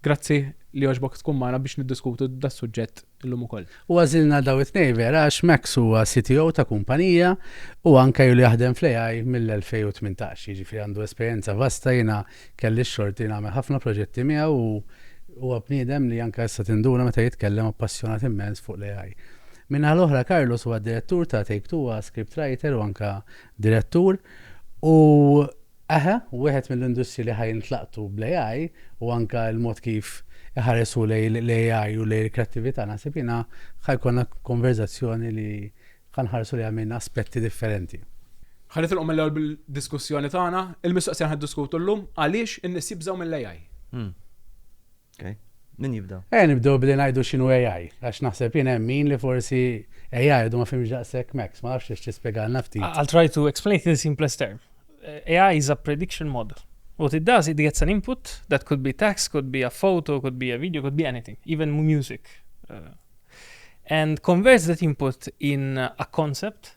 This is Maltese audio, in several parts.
Grazzi li għoġbok tkun magħna biex niddiskutu das-suġġett illum ukoll. U għażilna daw it-tnejn vera għax Max huwa CTO ta' kumpanija u anke ilu jaħdem fl-AI mill-2018, jiġifieri għandu esperjenza vasta, jiena kelli x-xorti li nagħmel ħafna proġetti miegħu u huwa bniedem li anke issa tinduna meta jitkellem appassjonat immens fuq l-AI. Min-naħa l-oħra Carlos huwa d-Direttur ta' Take-Two, huwa scriptwriter u anke direttur u Eħe, wieħed mill-industriji li ħa jintlaqtu bl-AI u anke l-mod kif iħares hu lejn l-AI u lejn il-kreattività naħseb jiena ħa jkollna konverżazzjoni li ħa nħarsu lejha minn aspetti differenti. Ħa nitilqu mill-ewwel bid-diskussjoni tagħna. Il-mistoqsija li ħa niddiskutu llum, għaliex in-nies jibżgħu mill-AI? Okay. Min jibda? Eh, nibdew billi ngħidu x'inhu AI, għax naħseb jien hemm min li forsi AI għadu ma fimx daqshekk Max, ma nafx tispjegalna ftit. I'll try to explain in the simplest term. Eh, AI is a prediction model. What it does, it gets an input that could be text, could be a photo, could be a video, could be anything, even music. Uh, and converts that input in a concept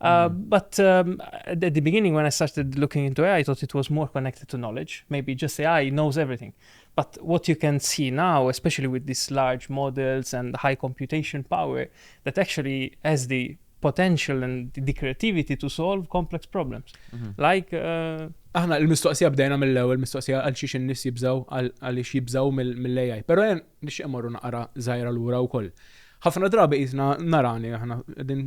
Uh, mm. But um, at the beginning, when I started looking into AI, I thought it was more connected to knowledge. Maybe just AI knows everything. But what you can see now, especially with these large models and high computation power, that actually has the potential and the creativity to solve complex problems. Mm -hmm. Like. Uh, Aħna il-mistoqsija bdejna mill-ewwel mistoqsija għal xiex in-nies jibżaw għal xiex jibżaw mill-AI. Però Nixtieq immorru naqra żgħira lura wkoll. Ħafna drabi qisna nara li aħna qegħdin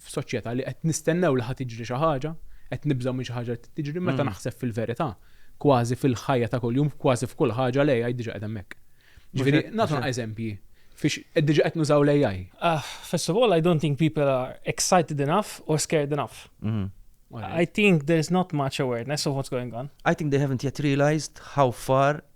f'soċjetà li qed nistennew li ħa tiġri xi ħaġa, qed nibżgħu minn xi ħaġa li tiġri meta mm. naħseb fil-verità kważi fil-ħajja ta' kuljum, kważi f'kull ħaġa l-AI diġa qed hemmhekk. Ġifieri nagħtu eżempji fiex diġa qed nużaw l-AI. Ah, first of all, I don't think people are excited enough or scared enough. Mm-hmm. I think there's not much awareness of what's going on. I think they haven't yet realized how far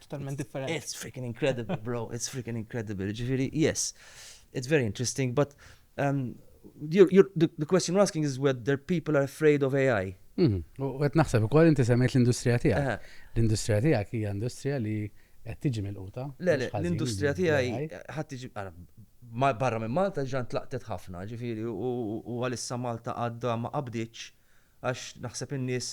totalment differenti. It's freaking incredible, bro, it's freaking incredible. Ġifiri, yes, it's very interesting, but um, you're, you're, the, the question you're asking is whether people are afraid of AI. Mhm. U għet naħseb ukoll inti semmejt l-industrija tiegħek. Eh. L-industrija tiegħek hija industrija li qed tiġi mill-quta. Le, le, l-industrija tiegħi ħadd tiġi barra minn Malta ġan tlaqtet ħafna, ġifieri u għalissa Malta għadda ma qabdiċ għax naħseb in-nies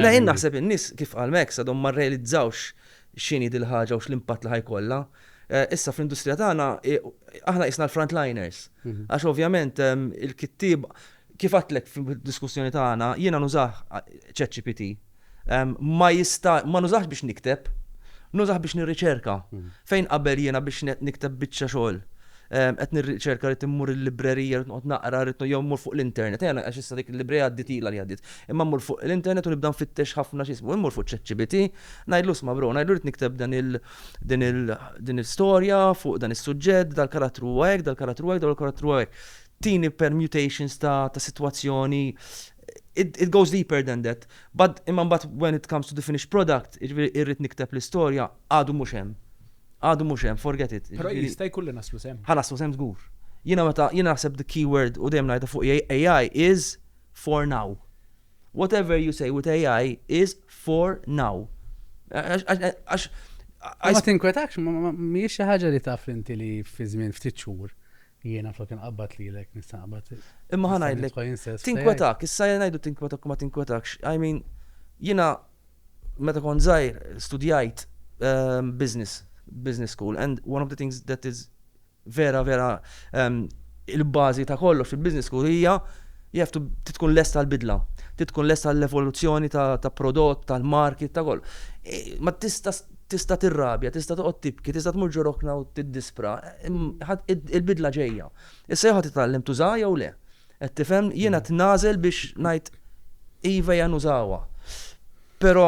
La jien naħseb in-nies kif qal Max għadhom ma rrealizzawx x'inhi dil-ħaġa u x'l-impatt li ħajkollha. Eh, issa fl-industrija tagħna eh, aħna isna l-frontliners. Mhm. Għax ovvjament ehm, il-kittib kif għatlek fil-diskussjoni tagħna jiena nużah eh, ChatGPT. ma jista' ma nużahx biex nikteb, nużah biex nirriċerka. Fejn qabel jiena biex nikteb biċċa xogħol qed nirriċerka rrid immur il-librerija rrid noqgħod naqra rrid jew mmur fuq l-internet, ejja għax issa dik il-librerija għaddiet ilha li għaddiet. Imma mmur fuq l-internet u nibda nfittex ħafna xi jismu, immur fuq ChatGPT, ngħidlu isma' bro, ngħidlu rrid nikteb dan il din il din il-storja fuq dan is-suġġett, dal-karattru huwa hekk, dal-karattru hekk, dal-karattru hekk. Tini permutations ta' sitwazzjoni it goes deeper than that. But, imma mbagħad when it comes to the finished product, jiġifieri irrid nikteb l-istorja, għadu mhux hemm. Għadu mhux hemm, forget it. Però jista' jkun li naslu s'hemm. Ħa naslu s'hemm żgur. Jiena meta, jiena naħseb the key word u dejjem ngħidha fuq AI is for now. Whatever you say with AI is for now. Għax. Ma tinkwetakx, mhijiex xi ħaġa li taf inti li fi żmien ftit xhur Jiena flok inqabbad lilek nista' nqabbad. Imma ħa ngħidlek. Tinkwetak, issa jien ngħidu tinkwetak ma tinkwetakx. I mean, jiena meta kont żgħir studjajt ehm, business, business school and one of the things that is vera vera ehm, il-bażi ta' kollox il-business school hija jaftu titkun lesta l-bidla, titkun lesta l-evoluzzjoni ta' prodott, tal-market, ta' kollu. E, ma tista' Tista' tirrabja, tista' toqgħod tibki, tista' tmur ġo rokna u tiddispra, imma il-bidla ġejja. Issa jew ħa titgħallem tużaha jew le. Qed tifhem? Jien qed nagħżel biex ngħid iva ejja nużawha. Però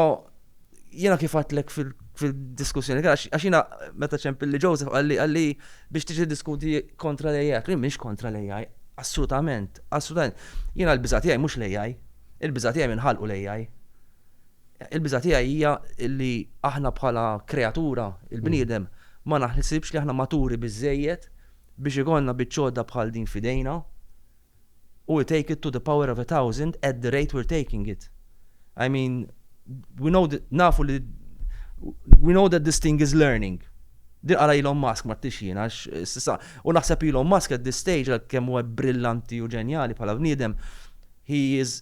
jiena kif għedtlek fil fil-diskussjoni, għax jina meta ċempilli Joseph għalli għalli biex tiġi diskuti kontra l-AI, għalli minx kontra l-AI, assolutament, assolutament. Jina l-bizati għaj mux l-AI, il-bizati għaj minħalqu l-AI. Il-biża' tiegħi hija li aħna bħala kreatura, il-bniedem, ma naħsibx li aħna maturi biżżejjed biex ikollna biċċ'għodda bħal din f'idejna u we take it to the power of a thousand at the rate we're taking it. I mean, we know that, nafu li, we know that this thing is learning. Din qala Elon Musk ma tix jiena, u naħseb Elon Musk at this stage, kemm huwa brillanti u ġenjali bħala bniedem, he is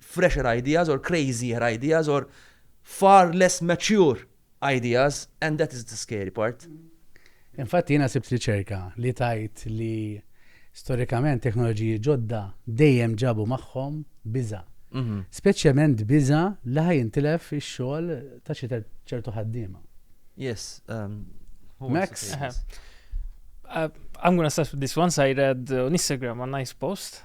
fresher ideas or crazier ideas or far less mature ideas and that is the scary part. Infatti jiena sibt riċerka li tgħid li storikament teknoloġiji ġodda dejjem ġabu magħhom biża'. Mhm. Speċjalment biża' li ħaj jintilef ix-xogħol ta' xi ċertu ħaddiema. Yes. Um, Max? Uh, I'm gonna start with this one. I read on Instagram a nice post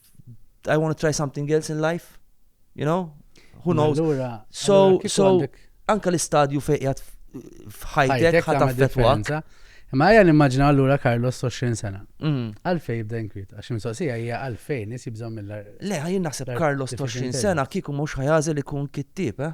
I want to try something else in life, you know? Who knows? Allura, so, so, anka l-istadju fejqjat f'ħajtek ħat affettwak. Ma għajan immaġna għallura Carlos 20 sena. Mm. Għalfej jibda inkwit, għax mistoqsija hija għalfej nis jibżom mill Le, għajin naħseb Carlos 20 sena kiku mux ħajazel ikun kittib, eh?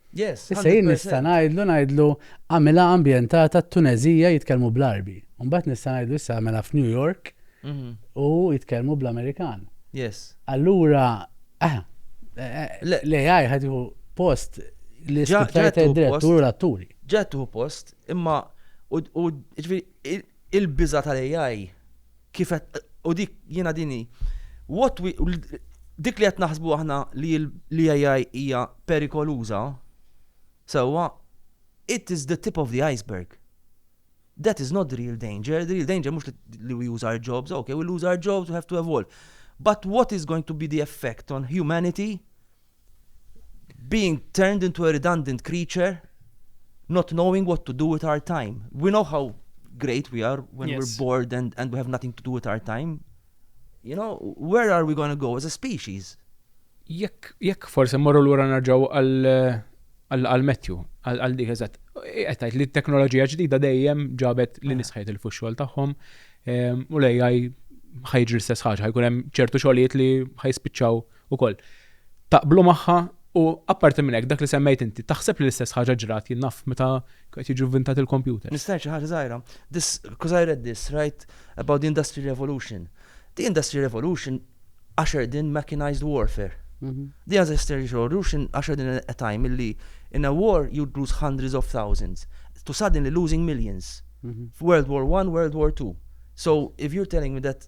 Issa jien nista' ngħidlu ngħidlu għamilha ambjentata t-Tuneżija jitkellmu bl-Għarbi. U mbagħad nista' ngħidlu issa għamilha f'New York u jitkellmu bl-Amerikan. Allura l-AI ħa tieħu post l-iskrittur direttur u l-atturi. Ġa tieħu post, imma il-biża' tal-AI Kif u dik jiena din hi. What we dik li qed naħsbu aħna li l-AI hija perikoluża, sewwa it is the tip of the iceberg. That is not the real danger. The real danger mhux li we lose our jobs, okay, we lose our jobs, we have to evolve. But what is going to be the effect on humanity being turned into a redundant creature, not knowing what to do with our time. We know how great we are when yes. we're bored and, and we have nothing to do with our time. You know, where are we going to go as a species? Jekk, jekk forse morru l-ura narġaw għal-metju, għal-dik eżat. Għettajt li t-teknoloġija ġdida dejjem ġabet li ah. nisħajt il-fuxxol taħħom ehm, u lejjaj ħajġri l-istess ħaġa, ħajkun hemm ċertu xogħlijiet li ħajspiċċaw ukoll taqblu magħha u apparti minn hekk dak li semmejt inti taħseb li l-istess ħaġa ġrat jien naf meta qed jiġu vvintat il-kompjuter. Nista' ngħid xi ħaġa żgħira? This, because I read this, right, about the industrial revolution. The industrial revolution ushered in mechanised warfare. The industrial revolution ushered in a time illi in a war you'd lose hundreds of thousands to suddenly losing millions. World War I, World War II. So if you're telling me that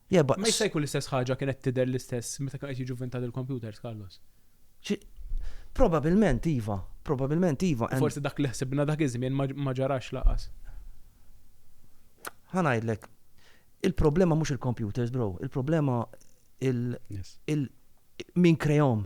Ma jista' jkun l-istess ħaġa kienet tidher l-istess meta kienu qed jiġu vvintati l-kompjuters, Carlos? Probabbilment iva, probabbilment iva. U forsi dak li ħsibna dak iż-żmien ma ġarax lanqas. Ħa ngħidlek, il-problema mhux il-kompjuters, bro, il-problema il-, min krehom.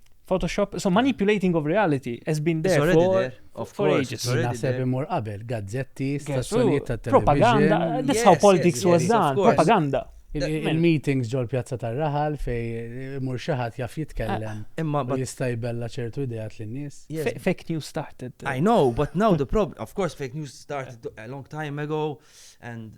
Photoshop, so manipulating of reality has been there already for, there, of for course, ages. Naħseb imur qabel, gazzetti, stazzjonijiet ta' television. Propaganda, that's how politics was done, propaganda. Il-meetings ġol pjazza tar-raħal fej imur eh, xaħat jaf jitkellem. Ah, imma u jista' jbella ċertu idejat lin-nies. Fake news started. I know, but now the problem, of course, fake news started a long time ago and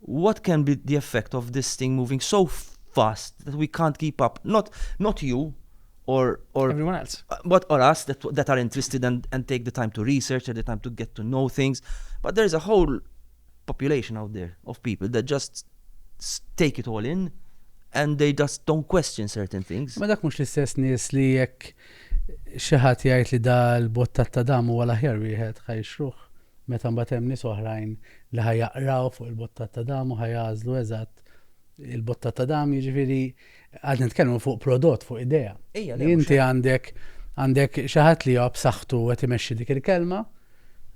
What can be the effect of this thing moving so fast that we can't keep up? Not, not you or, or everyone else. Uh, but or us that, that are interested and, and take the time to research and the time to get to know things. But there's a whole population out there of people that just take it all in and they just don't question certain things. Ma dak mhux l-istess nies li jekk xi ħadd jgħid li dal bottat ta' dam huwa l-aħjar wieħed ħajxruh. Meta mbagħad hemm nies oħrajn li ħa jaqraw fuq il-bottat ta' dam u ħa jagħżlu eżatt il-bottat ta' dam, jiġifieri qed nitkellmu fuq prodott, fuq idea. Ejja, le, mhux Inti hekk. għandek għandek xi ħadd li huwa b'saħħtu qed imexxi dik il-kelma.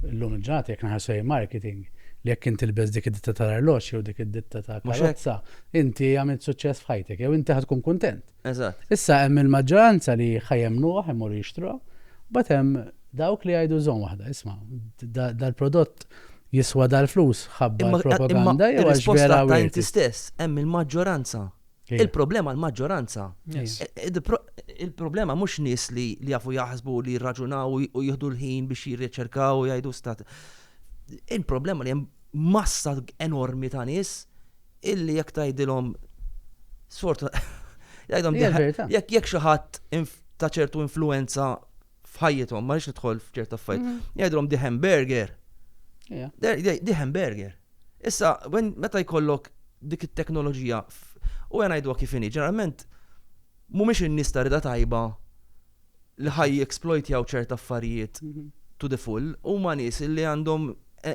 Illum il-ġurnata jekk naħarsu lejn marketing, li jekk int tilbes dik id-ditta tal-arloġġ jew dik id-ditta ta' Mhux hekk. karozza, inti għamilt suċċess f'ħajtek jew inti ħa tkun kuntent. Eżatt. Issa hemm il-maġġoranza li ħa jemmnuha, ħa jmorru jixtruha, mbagħad hemm Dawk li jgħidu żomm waħda, isma', dal-prodott jiswa dal-flus, ħabbar il-propaganda jew għax vera u. Imma inti stess, hemm il-maġġoranza. Il-problema l-maġġoranza. Il-problema mhux nies li jafu jaħsbu li jirraġunaw u jieħdu l-ħin biex jirriċerkaw u jgħidu stat. Il-problema li hemm massa enormi ta' nies illi jekk tgħidilhom sfortuna jgħidhom jekk jekk xi ħadd ta' ċertu influenza f'ħajjithom, ma rridx nidħol f'ċerta affarijiet. Mhm. Jgħidhom di hamburger. Di hamburger. Issa, meta jkollok dik it-teknoloġija u għana jidwa kif inhi, ġeneralment mhumiex in-nies ta' rida tajba li ħaj exploit jaw ċerta affarijiet mhm. to the full, huma nies li għandhom e,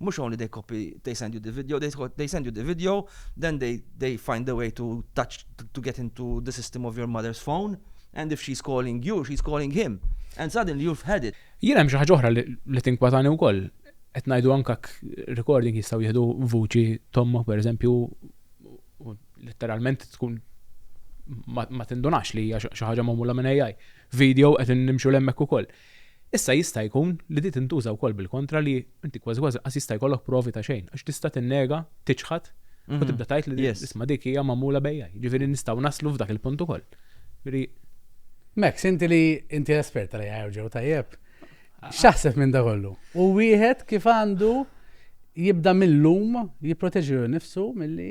Mhux only they copy, they send you the video, they, they send you the video, then they, they find the way to touch, to get into the system of your mother's phone, and if she's calling you, she's calling him, and suddenly you've had it. Jien hemm xi ħaġa oħra li tinkwatani wkoll. Qed ngħidu anke recording jistgħu jieħdu vuċi tomma pereżempju letteralment tkun ma tindunax li hija xi ħaġa magħmula minn AI. Video qed nimxu lemmek ukoll. Issa jista' jkun li di tintuża wkoll bil-kontra li inti kważi kważi lanqas jista' jkollok provi ta' xejn għax tista' tinnega, tiċħad u tibda tgħid li isma' dik hija magħmula b'AI. Jiġifieri nistgħu naslu f'dak il-punt ukoll. Jiġifieri. Max, inti li inti espert tal-AI u ġew tajjeb, x'taħseb minn dak kollu? U wieħed kif għandu jibda mil-lum jipproteġi lilu nnifsu milli.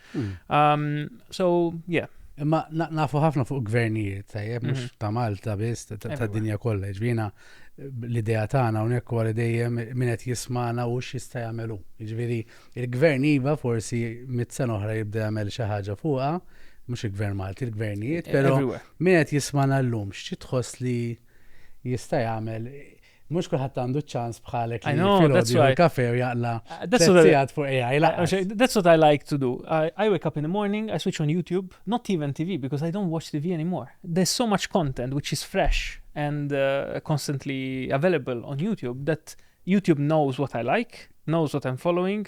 Um, so, yeah. Imma nafu ħafna fuq gvernijiet, tajjeb, mux mhm. ta' Malta biss, ta' dinja kollha, ġvina l-idea tagħna hawnhekk wara dejjem min qed jismana u x'jista' jagħmelu. Jiġifieri il-gvern iva forsi mit-sena oħra jibda jagħmel xi ħaġa fuqha, mhux il-gvern Malti, il-gvernijiet, e, però min qed jismana llum x'tħoss li jista' jagħmel Mhux kulħadd għandu ċ-ċans bħalek li filgħodu jieħu kafe u jaqla' sigħat fuq AI. That's what I like to do. I wake up in the morning, I switch on YouTube, not even TV because I don't watch TV anymore. There's so much content which is fresh and uh, constantly available on YouTube that YouTube knows what I like, knows what I'm following,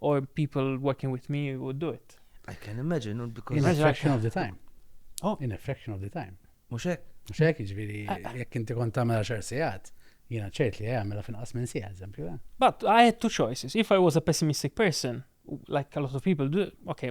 or people working with me would do it. I can imagine, no, because... In a fraction of the time. Oh. In a fraction of the time. Muxek? Muxek, ġviri, ah, ah. jek inti kont tamela xar sijat, jina ċert li għamela fin qas minn sija, eżempju. Eh? But I had two choices. If I was a pessimistic person, like a lot of people do, okay,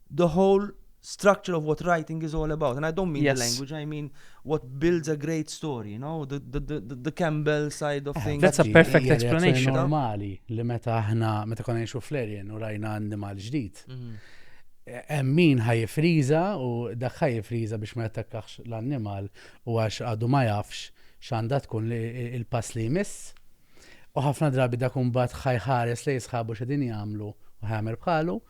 the whole structure of what writing is all about. And I don't mean yes. the language, I mean what builds a great story, you know, the, the, the, the Campbell side of eh, things. That's a perfect explanation. Normali li meta aħna meta konna ngħixu fl-erjen u rajna annimal ġdid. Mhm. Eh, hemm min ħajfriża u dak ħajfriża biex ma jattakkax l-annimal u għax għadu ma jafx x'għandha tkun il-pass li jmiss. U ħafna drabi dak imbagħad ħajħares li jisħabu x'edin jagħmlu u ħajamel bħalu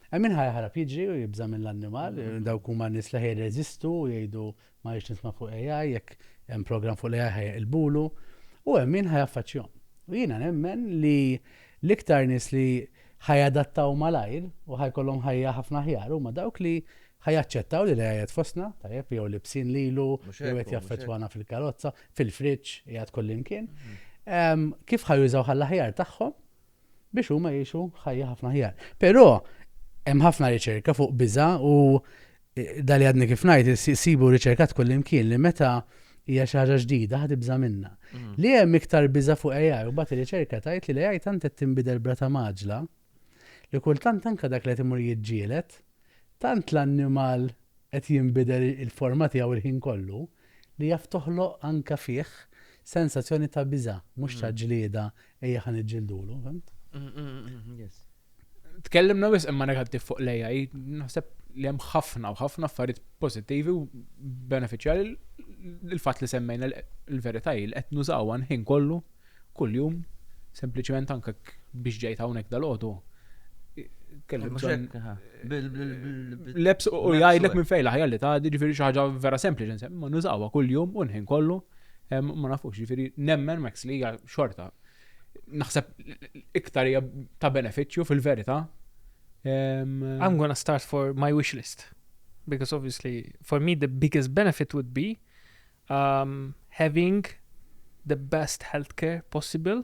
Hemm min ħa jaħrab jiġri u jibża' mill-annimal, dawk huma n-nies li ħa jirreżistu u jgħidu ma rridx nisma' fuq l-AI, jekk hemm programm fuq l-AI ħa jeqilbulu, u hemm min ħa jaffaċċjahom. U jiena nemmen li l-iktar nies li ħa jadattaw malajr u ħa jkollhom ħajja ħafna aħjar huma dawk li ħa jaċċettaw li l-AI qiegħed fostna, tajjeb, jew libsin lilu, jew qed jaffettwana fil-karozza, fil-friġġ, qiegħed kullimkien. Kif ħa jużawha għall-aħjar tagħhom biex huma jgħixu ħajja ħafna aħjar. Però hemm ħafna riċerka fuq biża' u e, dali għadni kif ngħid isibu riċerkat kullimkien li meta hija xi ħaġa ġdida ħad ibża' minnha. Mm. Li hemm iktar biża' fuq AI u bagħad ir-riċerka tgħid li l-AI tant qed tinbidel brata maġla li kultant anke dak li qed imur jiġġielet tant l-annimal qed jinbidel il-forma tiegħu il-ħin kollu li jaf toħloq anke fih sensazzjoni ta' biża' mhux ta' mm. ġlieda Ejja ħa niġġildulu, fent? Tkellimna wisq imma negattiv fuq l-AI, naħseb li hemm ħafna u ħafna affarijiet pożittivi u benefiċjali l-fatt li semmejna l-verità li qed nużaw ħin kollu kuljum sempliċement anke biex ġejt hawnhekk dal-għodu. Leps u jgħidlek minn fejla ħajja li ta' ġifieri xi ħaġa vera sempliċi, ma nużawha kuljum u nħin kollu. Ma nafux, ġifiri, nemmen Max li hija xorta. Naħseb iktar hija ta' beneficju fil-verita. I'm gonna start for my wish list. Because obviously, for me the biggest benefit would be um, having the best healthcare possible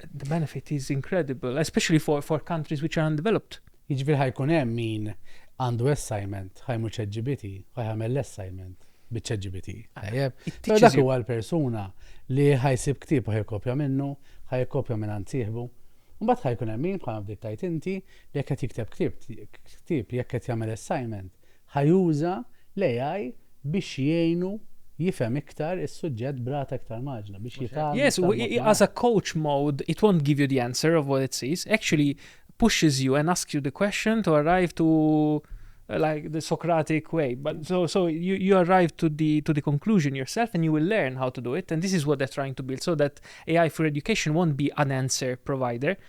The benefit is incredible, especially for, for countries which are undeveloped. Jiġifieri ħajkun hemm min għandu assignment ħajmu ċeġġibiti, ħajħamel l-assignment biċ-ċeġġibiti. Ah, Tajjeb. Pero dak huwa l-persuna li ħajsib ktib u ħajkopja minnu, ħajkopja minn ansieħbu. Mbagħad ħajkun hemm min bħal fdik tajt inti li jekk qed jikteb ktib, ktib jekk qed jagħmel assignment, Ħa juża l-AI biex jgħinu jifhem iktar is-suġġett b'rata iktar mgħaġġla, biex jitgħallem iktar mod malajr. Yes, as a coach mode, it won't give you the answer of what it sees, actually pushes you and asks you the question to arrive to like the Socratic way. But so so you, you arrive to the to the conclusion yourself and you will learn how to do it. And this is what they're trying to build so that AI for education won't be an answer provider.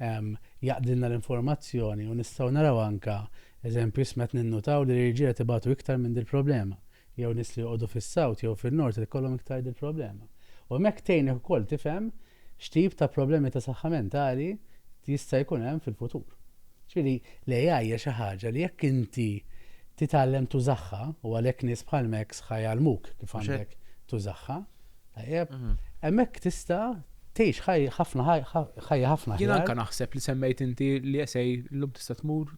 jaqdilna l-informazzjoni u nistgħu naraw anke eżempju isma' qed ninnutaw li l-irġiel qed ibatu iktar minn dil-problema jew nies li joqogħdu fis-south jew fin-north qed ikollhom iktar dil-problema u hemmhekk tgħinek ukoll tifhem x'tip ta' problemi ta' saħħa mentali jista' jkun hemm fil-futur. Ġifieri l-AI hija xi ħaġa li jekk inti titgħallem tużaha u għalhekk nies bħal Max ħa jgħallmuk kif għandek tużaha. Tajjeb, mhm. hemmhekk tista' tgħix ħajja ħafna ħajja ħafna. Jien anke naħseb li semmejt inti li esej llum tista' tmur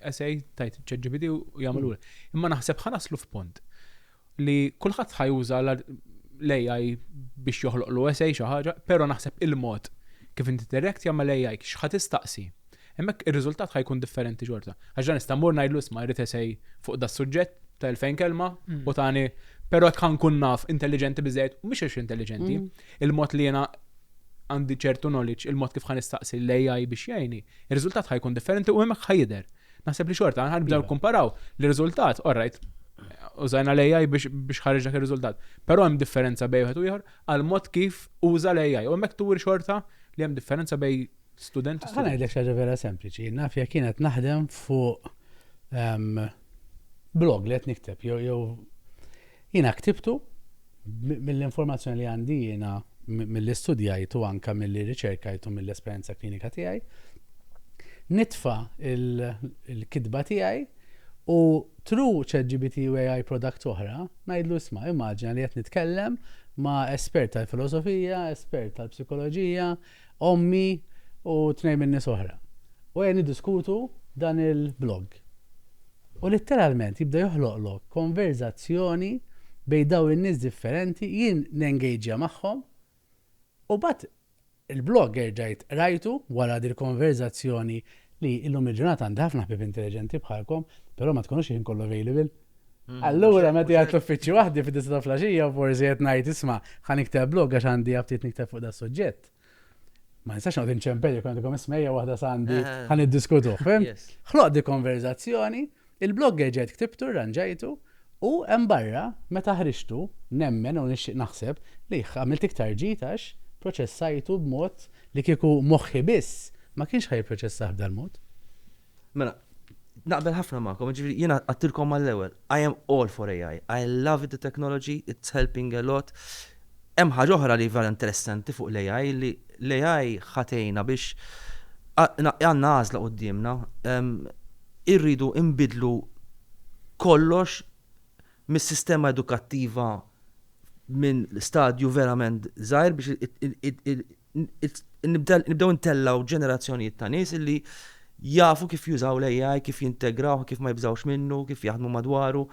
esej tajt ċeġibidi u jagħmlu. Mm. Imma naħseb ħanaslu f'pont li kulħadd ħajuża l-AI biex joħloq l esej xi ħaġa, però naħseb il-mod kif inti direkt jagħmel AI x'ħad tistaqsi. Hemmhekk ir-riżultat ħa jkun differenti xorta. Għax dan nista' mmur ngħidlu isma' jrid esej fuq da suġġett ta' 2000 kelma mm. u tani però tħan kun naf intelligenti biżejjed u mhux għax intelligenti, mm. il-mod li jiena għandi ċertu knowledge, il-mod kif ħan istaqsi l-AI biex jgħini, ir-riżultat ħajkun differenti u hemmhekk ħajder. Naħseb li xorta għan ħanibdew iva. kumparaw l-riżultat, orrajt, użajna l-AI biex ħarġ dak ir-riżultat. Però hemm differenza bejn wieħed u ieħor għal mod kif uża l-AI u hemmhekk tuwir xorta li hemm differenza bej Student u student. Ħa ngħidlek xi ħaġa vera sempliċi. Naf jekk kienet naħdem fuq ehm, blog li qed nikteb jew jew jiena ktibtu mill-informazzjoni li għandi jiena mill-istudjajt u anka mill-li riċerkajt u mill-esperjenza klinika tiegħi, nitfa il-kidba tiegħi u tru ChatGPT u AI product oħra, najdlu isma, immaġina li qed nitkellem ma' espert tal-filosofija, espert tal-psikoloġija, ommi u tnejn minn nies oħra u qegħdin niddiskutu dan il-blog. U litteralment jibda joħloqlok konverżazzjoni bejn dawn in-nies differenti, jien nengejġja magħhom u mbagħad il-blog erġajt qrajtu wara dil-konverżazzjoni li illum il-ġurnata għandi ħafna ħbieb intelliġenti bħalkom, però ma tkunux il-ħin kollu available. Mm, Allura, meta jgħat l-uffiċċju waħdi fid disa ta' flaxija, forsi qed ngħid isma' ħan ikteb blog għax għandi għabtit nikteb fuq da' suġġett. Ma nistax noqgħod inċempel jekk għandikom ismejja waħda sandi eh. ħan iddiskutu. Ħloq di konverzazzjoni, il-blog ġejt ktibtu, ranġajtu, u hemm barra meta ħriġtu nemmen u nixtieq naħseb li għamilt iktar ġitax proċessajtu b'mod li kieku moħħi biss ma kienx ħaj proċessaħ b'dal-mod. Mela, naqbel ħafna magħkom, ġifieri jiena għattilkom mal-ewwel, I am all for AI. I love the technology, it's helping a lot. Hemm ħaġa oħra li vera interessanti fuq l-AI li l-AI ħatejna biex għandna għażla quddiemna ehm, irridu imbidlu kollox mis-sistema edukattiva minn stadju verament żgħir biex nibdew intellgħu ġenerazzjonijiet ta' nies illi jafu kif jużaw l-AI, kif jintegrawh, kif ma jibżawx minnu, kif jaħdmu madwaru.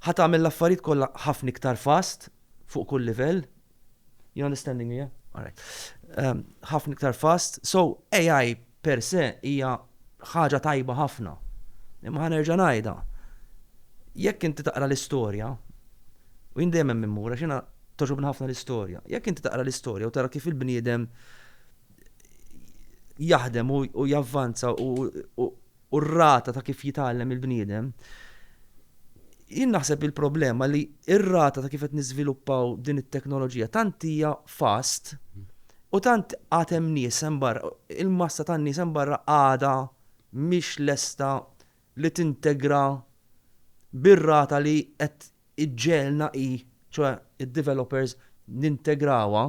Ħa tagħmel l-affarijiet kollha ħafna iktar fast fuq kull livell. You understanding me, yeah? All right. Ehm, ħafna iktar fast. So, AI Per se hija ħaġa tajba ħafna. Imma ħa nerġa' ngħidha, jekk inti taqra l-istorja, u jien dejjem hemm immur għax jiena togħġobni ħafna l-istorja, jekk inti taqra l-istorja u tara kif il-bniedem jaħdem u javvanza u r-rata ta' kif jitgħallem il-bniedem, jien naħseb il-problema li r-rata ta' kif qed niżviluppaw din it-teknoloġija tant hija fast U tant għad hemm nies hemm barra, il-massa tan-nies hemm barra għadha mhix lesta li tintegra bir-rata li qed iġġegħelna hi, ċoe id-developers, nintegrawha.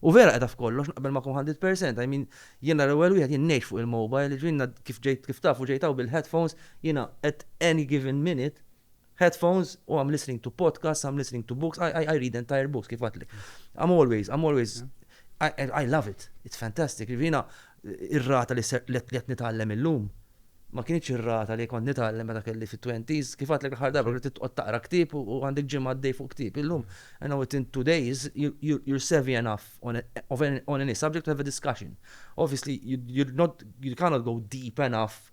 U vera qiegħda f'kollox, naqbel magħkom hundred per cent. I mean, jiena l-ewwel wieħed, jien ngħix fuq il-mobile, jiġifieri jiena kif ġejt, kif tafu ġejt hawn bil-headphones, jiena at any given minute, headphones u I'm listening to podcasts, I'm listening to books, I, I, I read entire books, kif għatli. I'm always, I'm always, I, I love it, it's fantastic. Rivina, ir-rata li qed nitgħallem illum, ma kienx ir-rata li kont nitgħallem meta kelli fit-20s, kif għatlek l-ħar darba li titqgħod taqra ktieb u għandek ġimgħa għaddej fuq ktieb. Illum, and now within two days, you're savvy enough on, of any, on any subject to have a discussion. Obviously, you, you're not, you cannot go deep enough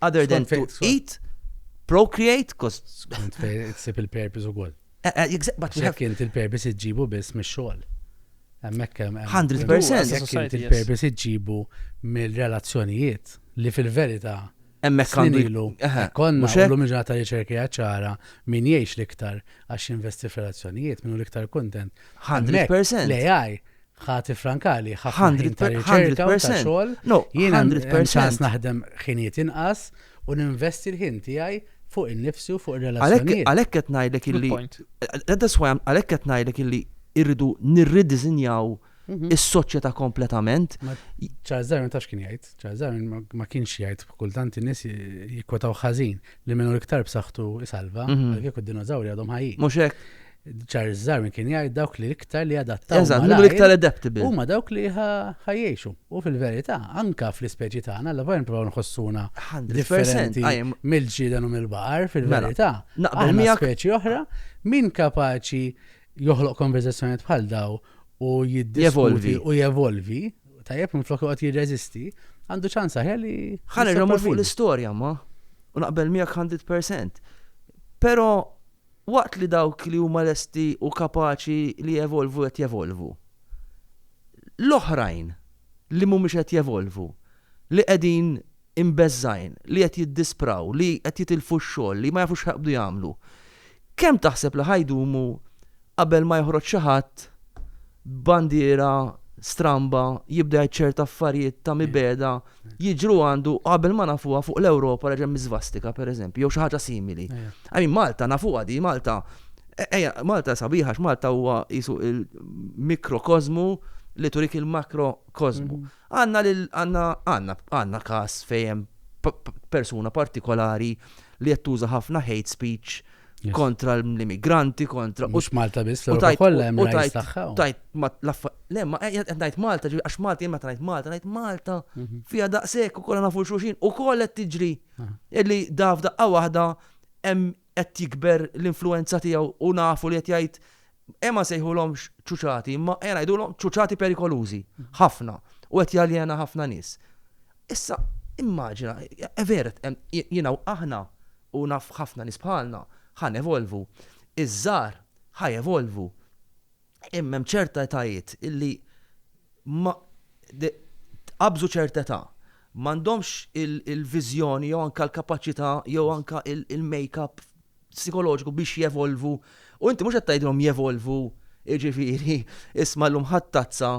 Other than to eat, procreate, cause. Sib il-purpose u għol. Eh, eh, Jek inti il-purpose iġġibu biss mis xogħol 100%. Jek inti il-purpose iġġibu mill-relazzjonijiet li fil-verita Emmek għandilu. Konna, l-lum ġata riċerki ċara min jiex liktar għax investi fil-relazzjonijiet, minnu liktar kontent. 100%. L-AI ħati frankali, ħafna ta' riċerka u ta' xogħol. No, jiena ċans naħdem ħiniet inqas u ninvesti l-ħin tiegħi fuq in-nifsi u fuq ir-relazzjonijiet. Għalhekk qed ngħidlek illi għalhekk qed ngħidlek illi irridu nirridiżinjaw mhm. is-soċjetà kompletament. Charles Darwin tax kien jgħid, Charles Darwin ma kienx jgħid kultant in-nies jikkwetaw ħażin li minnu iktar b'saħħtu isalva, mhm. għalhekk id-dinożawri għadhom ħajjin. Mhux hekk. Charles Darwin kien jgħid dawk li iktar li adattaw. Eżatt, minn iktar adaptable. Huma dawk li ħajjexu. U fil-verità, anka fl-ispeċi tagħna, la vajn provaw nħossuna differenti mill-ġieden u mill-baqar, fil-verità. Mela, naqbel miegħek. Speċi oħra, min kapaċi joħloq konverzazzjonijiet bħal daw u jiddiskuti u jevolvi, tajjeb minn flok joqgħod jirreżisti, għandu ċans aħjar li. Ħalli fuq l-istorja ma. U naqbel miegħek 100%. Però Waqt li dawk li huma lesti u kapaċi li jevolvu qed jevolvu, l-oħrajn li mhumiex qed jevolvu, li qegħdin imbeżżgħin, li qed jiddispraw, li qed jitilfu x-xogħol, li ma jafux x'ħajqbdu jagħmlu, kemm taħseb li ħa jdumu qabel ma joħroġ xi ħadd b'bandiera stramba jibda jgħid ċert affarijiet ta' mibegħda jiġru għandu qabel ma nafuha fuq l-Ewropa reġa' hemm iżvastika pereżempju jew xi ħaġa simili. I mean Malta nafuha di Malta ejja Malta sabiħa għax Malta huwa qisu l-mikrokożmu li turik il-makrokożmu. Għandna lil, għandna, għandna, għandna każ fejn hemm persuna partikolari li qed tuża ħafna hate speech kontra l-immigranti, kontra. Mhux Malta biss, u tajt kollha hemm tajt tagħha. Tajt le ma eh, qed ngħid Malta, għax Malta jien meta ngħid Malta, ngħid Malta mhm. fiha daqshekk ukoll nafu xulxin ukoll qed tiġri. Illi daf daqqa waħda hemm qed jikber l-influwenza tiegħu u nafu li qed jgħid ejja ma nsejħulhomx ċuċati imma ejja ngħidulhom ċuċati perikolużi ħafna u qed jaljena ħafna nies. Issa immaġina, eh, vera jiena u aħna u naf ħafna nies bħalna ħa nevolvu, iż-żgħar ħa jevolvu. Imma hemm ċerta etajiet illi ma qabżu ċerta età. M'għandhomx il-viżjoni jew anke l-kapaċità jew anke il-makeup psikoloġiku biex jevolvu. U inti mhux qed tgħidilhom jevolvu, jiġifieri isma' llum ħadd tazza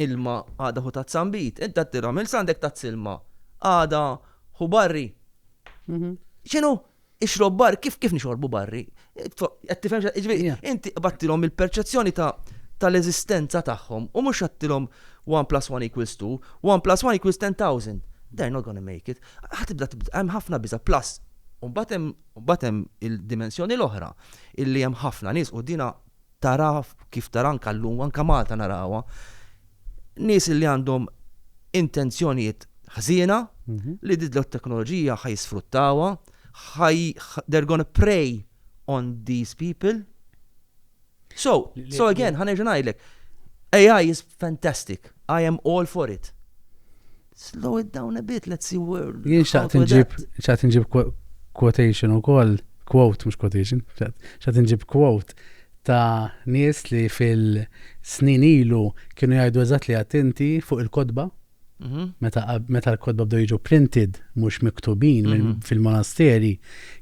ilma għada ħu tazza nbid. Inti qed tirhom il għandek tazz ilma, għada ħu barri. Mhm. X'inhu? Ixrob barri, kif kif nixorbu barri? Qed tifhem xa- jiġifieri, Yeah. inti qbattilhom il-perċezzjoni ta' tal-eżistenza tagħhom u mhux għattilhom 1 plus 1 equals 2, 1 plus 1 equals 10,000. They're not gonna make it. Ħa tibda tibda, hemm ħafna biża' plus. U mbagħad hemm mbagħad hemm il-dimensjoni l-oħra illi hemm ħafna nies u dina tara kif tara anke llum, anke Malta narawha, nies li għandhom intenzjonijiet ħżiena li din it-teknoloġija ħa jisfruttawha, they're gonna prey on these people. So, so again, ħa nerġa' ngħidlek, AI is fantastic, I am all for it. Slow it down a bit, let's see where. Jien xaqt nġib, xaqt nġib quotation u koll, quote, mux quotation, xaqt nġib quote ta' nies li fil-snin ilu kienu jgħidu eżat li attenti fuq il-kodba. Mhm. Meta l-kodba bdew jiġu printed, mhux miktubin mhm. fil-monasteri,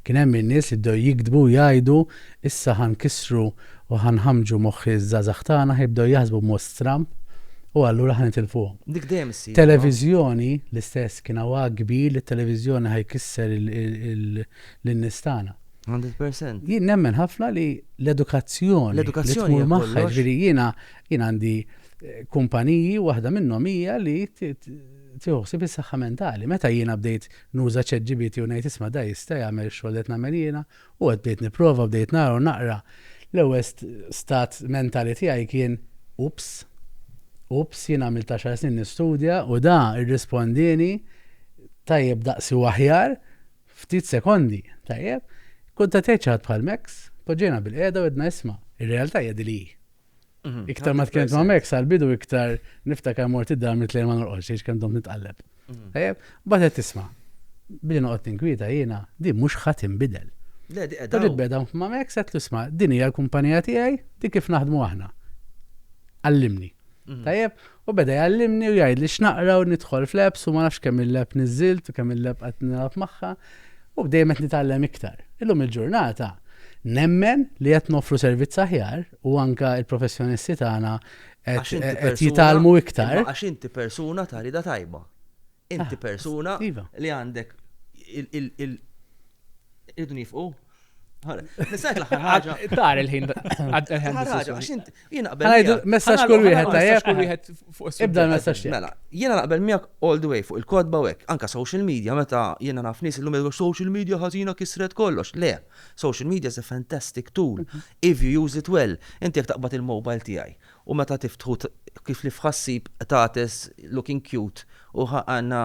kien hemm in-nies li bdew jikdbu jgħidu issa ħan kisru U ħa nħammġu moħħi ż-żgħażagħ tagħna, ħa jibdew jaħsbu b'mod stramb u allura ħa nitilfuhom. Dik dejjem issir, no? Televiżjoni, l-istess, kien hawn għagħ kbir li t-televiżjoni ħa jkisser lin-nies tagħna. Hundred percent. Jien nemmen ħafna li l-edukazzjoni. L-edukazzjoni. Li tmur magħha, jiġifieri jiena għandi kumpaniji u waħda minnhom hija li tieħu ħsieb is-saħħa mentali. Meta jiena bdejt nuża ChatGPT u ngħid isma' da jista' jagħmel x-xogħol li qed nagħmel jiena, U hekk bdejt nipprova, bdejt nara u naqra. L-ewwel stat mentali tiegħi kien, Oops! Oops! Jien għamilt għaxar snin nistudja u da rrispondieni tajjeb daqsi u aħjar ftit sekondi, tajjeb? Kkuntattjajt xi ħadd bħal Max, tpoġġejna bilqiegħda u għedna isma', ir-realtà hija din li hi. Mhm. Iktar ma tkellem ma' Max għal-bidu iktar niftakar mort id-dar mit ma norqodx għax kemm dom nitqalleb. Mhm. Eh, Batet tisma. Billi noqgħod tinkwieta jiena di mhux ħadd inbidel. Le, di qed. Tadib beda ma' Max qed tisma' din hija l-kumpanija tiegħi di kif naħdmu aħna. Allimni. Mhm. Tajjeb, U beda jgħallimni u jgħidli x'naqra u nidħol fl-apps u ma nafx kemm il-app niżżilt u kemm il-app qed nilgħab magħha u dejjem qed nitgħallem iktar. Illum il-ġurnata nemmen li qed noffru servizz aħjar u anke l-professjonisti tagħna qed jitgħallmu iktar. Għax inti persuna ta' rieda tajba. Inti ah, persuna iva. li għandek il- Irridu nifqu. Nisajk l-axar ħagġa. Tar il-ħin. Jena naqbel. Messax kull wieħed tajjeb. Kull wieħed fuq Ibda messax Mela, jena naqbel miegħek all the way fuq il-kodba u hekk. Anka social media meta jena naf nies illum jgħidu social media ħażina kisret kollox. Le, social media is a fantastic tool mhm. if you use it well. Inti jekk taqbad il-mobile tiegħi U meta tiftħu kif li f'ħassib qtates looking cute u għandna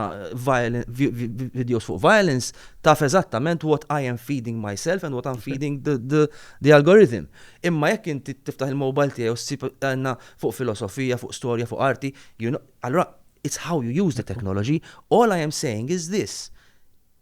videos fuq violence taf eżattament what I am feeding myself and what I'm feeding the algorithm. Imma jekk inti tiftaħ il-mobile tiegħi u ssib għandna fuq filosofija, fuq storja, fuq arti, allura it's how you use the technology, all I am saying is this,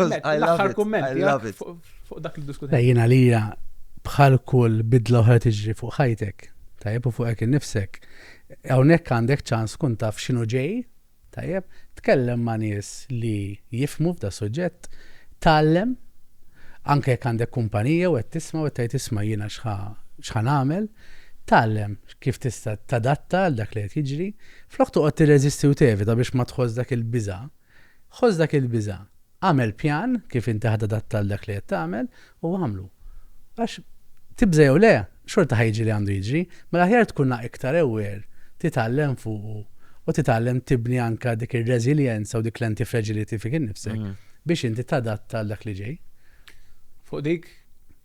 L-aħħar kummenti fuq dak li diskutejna. Eh, Jien għalija bħal kull bidla oħra tiġri fuq ħajtek, tajjeb u fuqek innifsek. Hawnhekk għandek ċans kun taf x'inhu ġej, tajjeb, tkellem ma' nies li jifmu f'da suġġett, tgħallem anke jekk għandek kumpanija u qed tisma' u qed tgħid isma' jiena x'ħa nagħmel, tgħallem kif tista' tadatta għal dak li qed jiġri, floq toqgħod tirreżisti u tevita biex ma tħoss dak il-biża' Ħoss dak il-biża', agħmel pjan kif inti ħa tadatta għal dak li qed tagħmel u agħmlu. Għax, tibża' jew le, xorta ħa jiġri li għandu jiġri, mela aħjar tkun la iktar aware, titgħallem fuqu u titgħallem tibni anke dik ir-reżiljenza u dik l-anti-fragility fik innifsek biex inti tadatta għal dak li ġej. Fuq dik,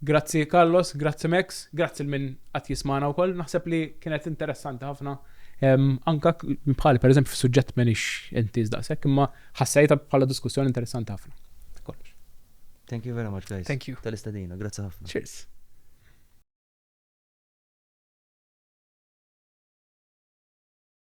Grazzi Carlos, grazzi Max, grazzi 'l min qed jismagħna wkoll. Naħseb li kienet interessanti ħafna anke bħali pereżempju fis-suġġett m'għenix intiż daqshekk imma ħassejtha bħala diskussjoni interessanti ħafna. Kollox. Thank you very much guys. Thank you. Tal-istedina, grazzi ħafna. Cheers.